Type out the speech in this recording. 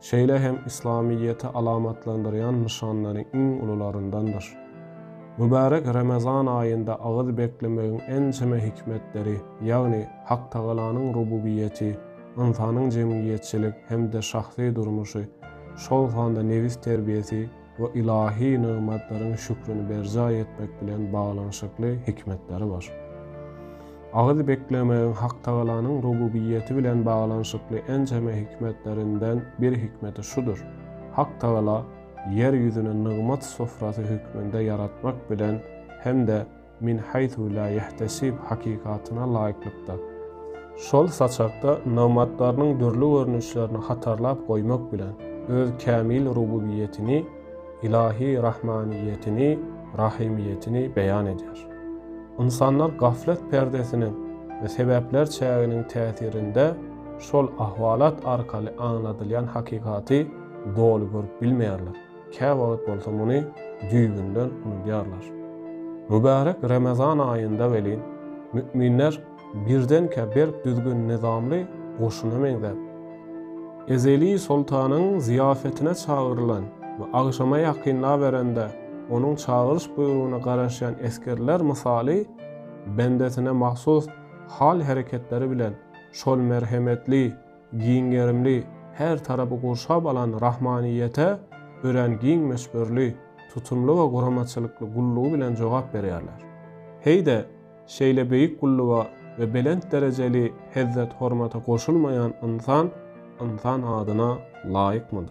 Şeýle hem yslamyýeti alamatlandyrýan nyşanlaryň iň ulularyndandyr. Mübärek Remezan aýynda agyz beklemegiň ençeme hikmetleri, ýagny Haktagalanyň rububiýeti, ynsanyň jemgyýetçilik hem-de şahsy durmuşy, şol sanda nebis terbiýesi, we ylahy nygmatlaryň şükrini berjaý etmek bilen baglanyşykly hikmetleri bar. Agyz beklemegiň Hak Tagalanyň rububiýeti bilen baglanyşykly ençeme hikmetlerinden bir hikmeti şudur, Hak Tagala ýer ýüzüni nygmat sofrasy hökmünde ýaratmak bilen hem-de Min haýsu la ýahtasib hakykatyna laýyklykda, şol saçakda nygmatlarynyň dürli görnüşlerini hatarlap goýmak bilen, Öz kämil rububiýetini, ylahy rahmaniýetini, rahymyýetini beýan edýär. Ynsanlar gaflet perdesiniň we sebäpler çäginiň täsirinde şol ahwalat arkaly aňladylýan hakykaty doly görüp bilmeýärler. Käwagt bolsa muny düýbünden unudýarlar. Mübärek Remezan aýynda welin, mü'minler birdenkä berk düzgün-nyzamly goşuna meňzäp, ezeli soltanyň zyýafetine çagyrylan we agşama ýakynlaberende onuň çagyryş buýrugyna garaşýan esgerler mysaly bendesine mahsus hal-hereketleri bilen şol merhemetli, Giň gerimli, her tarapy gurşap alan rahmanyýete örän giň möçberli, tutumly we guramaçylykly gullugy bilen jogap berýärler. Heý-de, şeýle beýik gulluga we belent derejeli hezzet-hormata goşulmaýan ynsan ynsan adyna laýykmydyr?